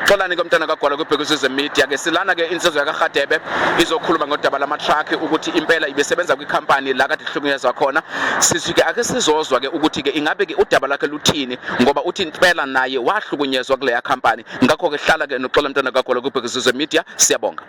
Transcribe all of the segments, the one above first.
Xolani ke mntana kagwala kwibhekisizwe media ke silana ke insizwa yakarhadebe izokhuluma ngodaba lamatraki ukuthi impela ibesebenza kwikhampani la kade ihlukunyezwa khona sisi ke ake sizozwa ke ukuthi ke ingabe ke udaba lakhe luthini ngoba uthi impela naye wahlukunyezwa kuleya khampani ngakho ke hlala ke noxola mntana kagwala kwibhekisizwe media siyabonga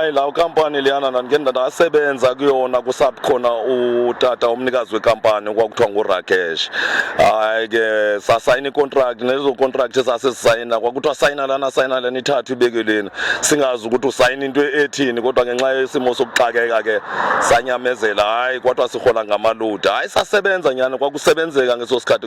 hayi la ukampani liyana ndandike ndasebenza kuyona kusakhona utata umnikazi wekampani kwakuthiwa ngurakesh hayi ke sasayina icontract nezo contract esasisayina kwakuthiwa sayina lana sayina lena ithathu ibekeleni singazi ukuthi usayina into ethini kodwa ngenxa yesimo sokuxakeka ke sanyamezela hayi kwathiwa sihola ngamaludi hayi sasebenza nyani kwakusebenzeka ngeso sikhathi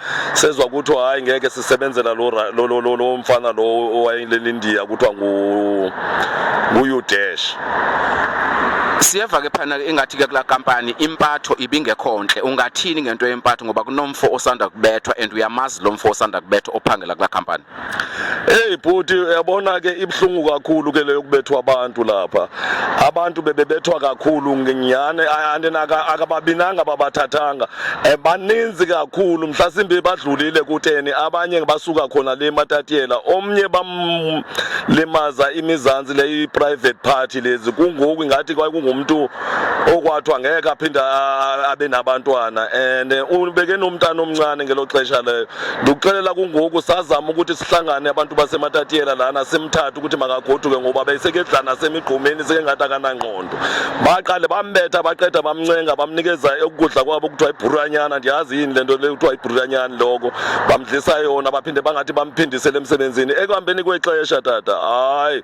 sezwa ukuthi hayi ngeke sisebenzela lo lo lo lo lo mfana lo owayeleni India kuthiwa ngu nguYudesh siyeva ke phana ingathi ke kula kampani impatho ibingekho ntle ungathini ngento yempatho ngoba kunomfo osanda kubethwa and uyamazi lo mfo osanda kubethwa ophangela kula kampani Hey bhuti uyabona ke ibhlungu kakhulu ke leyo kubethwa abantu lapha. Abantu bebebethwa kakhulu ngiyane andinaka akababinanga babathathanga. Eh, baninzi kakhulu mhlasimbe badlulile kuteni abanye basuka khona le matatiyela omnye bamlimaza imizansi le private party lezi kungoku ngathi kwakungumuntu okwathiwa ngeke aphinde abe nabantwana and eh, ubeke nomntana omncane ngelo xesha leyo ndikuxelela kungoku sazama ukuthi sihlangane abantu basematatiyela lana simthathe ukuthi makagoduke ngoba besekedlana semigqumeni sekengathi akanangqondo baqale bambetha baqeda bamncenga bamnikeza ukudla kwabo kuthiwa ibhuranyana ndiyazi yini le nto le kuthiwa ibhuranyana loko bamdlisa yona baphinde bangathi bamphindisele emsebenzini ekuhambeni kwexesha tata hayi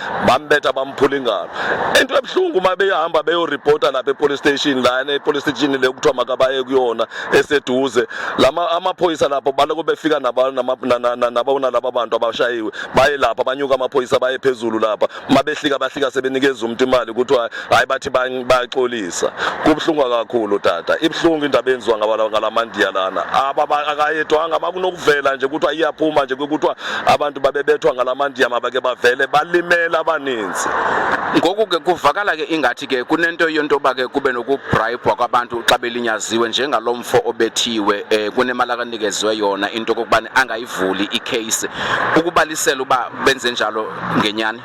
bambetha bamphula ingalo into ebuhlungu uma beyahamba beyoripota lapha epolice station lana epolice station le kuthiwa makabaye kuyona eseduze lama amaphoyisa lapho baloko befika nabona laba bantu abashayiwe baye lapha banyuka amaphoyisa baye phezulu lapha uma behlika bahlika sebenikeza umuntu imali kuthiwa hayi bathi baxolisa kubuhlungu kakhulu tata ibuhlungu indaba yenziwa ngalamandiya lana akayedwanga bakunokuvela nje kuthiwa iyaphuma nje kuthiwa abantu babebethwa ngalamandiya mabake bavele balimela abaninzi ngoku ke kuvakala ke ingathi ke kunento yento yoba ke kube nokubrayibhwa kwabantu xa belinyaziwe njengalo mfo obethiwe um kunemali akanikezwe yona into okokubana angayivuli ikheyisi ukubalisela uba benze njalo ngenyani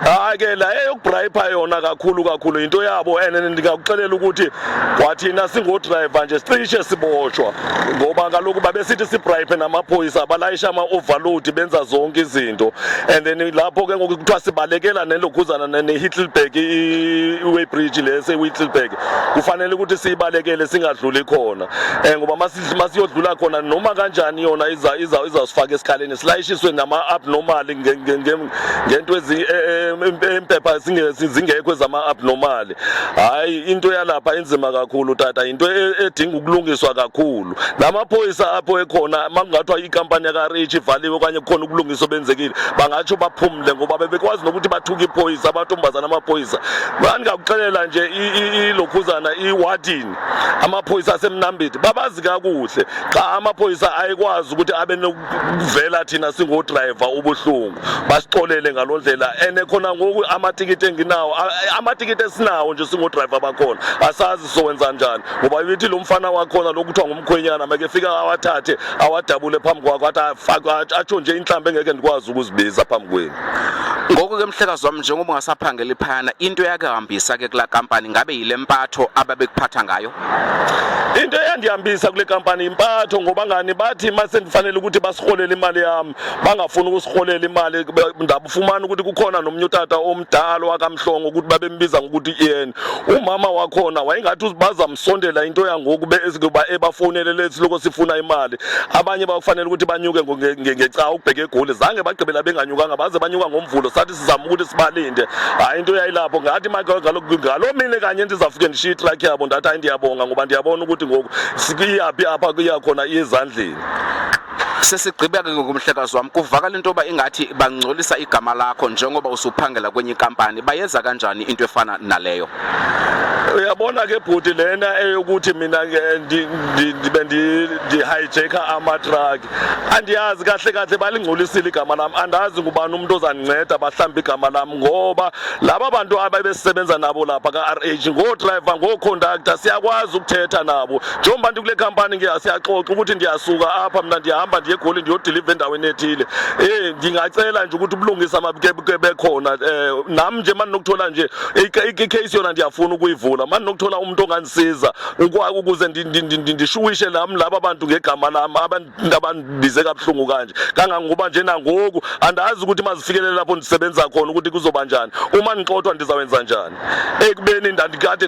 hayi ke la eyokubrayipha yona kakhulu kakhulu into yabo and ndingakuxelela ukuthi kwathina singoodriver nje sicishe siboshwa ngoba kaloku babesithi sibrayiphe namaphoyisa balayisha ama-overload benza zonke izinto and then lapho ke ngoku kuthiwa sibalekela nelokhuzana ne-hittlebag i-way bridge lesi i-hittlebag kufanele ukuthi siyibalekele singadluli khona um ngoba masiyodlula khona noma kanjani yona izasifaka esikhaleni silayishiswe ngama-abnormal ngento e, e, empepha zingekho ezama-abnormal hhayi into yalapha inzima kakhulu tata yinto e, edinga ukulungiswa kakhulu namaphoyisa apho ekhona uma kungathiwa ikampani yakarich ivaliwe okanye kukhona ukulungisa obenzekile bangatsho baphumle ngoba bebekwazi nokuthi bathuke iphoyisa amantombazana amaphoyisa ndingakuxelela nje ilokhuzana iwadini amaphoyisa asemnambithi babazi kakuhle qha amaphoyisa ayikwazi ukuthi abe kuvela thina singodrayiva ubuhlungu basixolele ngalo ndlela and khona ngoku amatikiti enginawo amatikiti esinawo nje singodrayiva bakhona asazi sowenza njani ngoba yithi lo mfana wakhona lokuthiwa ngumkhwenyana makefika awathathe awadabule phambi kwakho athi atsho nje inhlamba engeke ndikwazi ukuzibiza phambi kwenu Ngoko ke mhlekazi wami njengoba ungasaphangeli phayana into yakahambisa ke kula kampani ngabe yile mpatho ababekuphatha ngayo into eyandihambisa kule kampani impatho ngoba ngani bathi uma sendifanele ukuthi basiholele imali yami bangafuni ukusiholela imali ndabufumana ukuthi kukhona nomnye utata omdala wakamhlongo ukuthi babembiza ngokuthi iyena umama wakhona wayengathi uzibaza sondela into yangoku bekuba ebafonele lethi lokho sifuna imali abanye bakufanele ukuthi banyuke ngecawa ukubheka egoli zange bagqibela benganyukanga baze banyuka ngomvulo sathi sizama ukuthi sibalinde hayi into yayilapho ngathi ngalo mine kanye ndizafike ndishiye itruck yabo ndathi hayi ndiyabonga ngoba ndiyabona ukuthi ngoku sikuyaphi apha kuyakhona iyezandleni sesigqibeke ngomhlekazi wami kuvakala into yoba ingathi bangcolisa igama lakho njengoba usuphangela kwenye inkampani bayeza kanjani into efana naleyo uyabona ke bhuti lena eyokuthi mina ndibe ndi-hijacka amatruck andiyazi kahle kahle balingcolisile igama lam andazi ngubani umuntu ozandinceda bahlamba igama lam ngoba laba bantu ababesebenza nabo lapha ka-r h ngoodrayiva ngooconductor siyakwazi ukuthetha nabo njengoba ndikule khampani ke siyaxoxa ukuthi ndiyasuka apha mna ndiyahamba ndiye egoli ndiyodiliva endaweni ethile um ndingacela nje ukuthi ubulungisa mabukebuke bekhona um nam nje mani nokuthola nje ikheyisi yona ndiyafuna ukuyivula mani nokuthola umntu ongandisiza ukuze ndishuwishe nam laba bantu ngegama lam ngabandibize kabuhlungu kanje kangangokuba nje nangoku andazi ukuthi mazifikelele lapho ndisebenza khona ukuthi kuzoba njani uma ngixothwa ndizawenza njani ekubeni ndandikade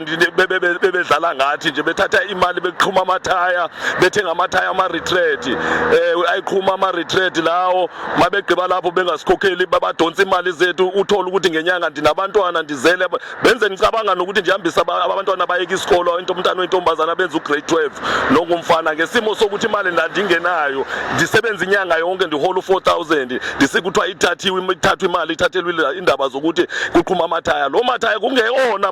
bebedlala ngathi nje bethatha imali beqhuma amathaya bethenga amathaya ama-retreat um eh, ayiqhuma ama-retreat lawo mabegqiba lapho bengasikhokheli babadonsa imali zethu uthole ukuthi ngenyanga ndinabantwana ndizele benze ngicabanga nokuthi nje hambisa abantwana bayeke isikolo into umntana oyintombazana benza ugrade 12 nongumfana ngesimo sokuthi imali ndandingenayo ndisebenza inyanga yonke ndihola u-4000 ndisike kuthiwa ithathiwe ithathwa imali ithathelwe indaba zokuthi kuqhuma amathaya lo mathaya kungeyona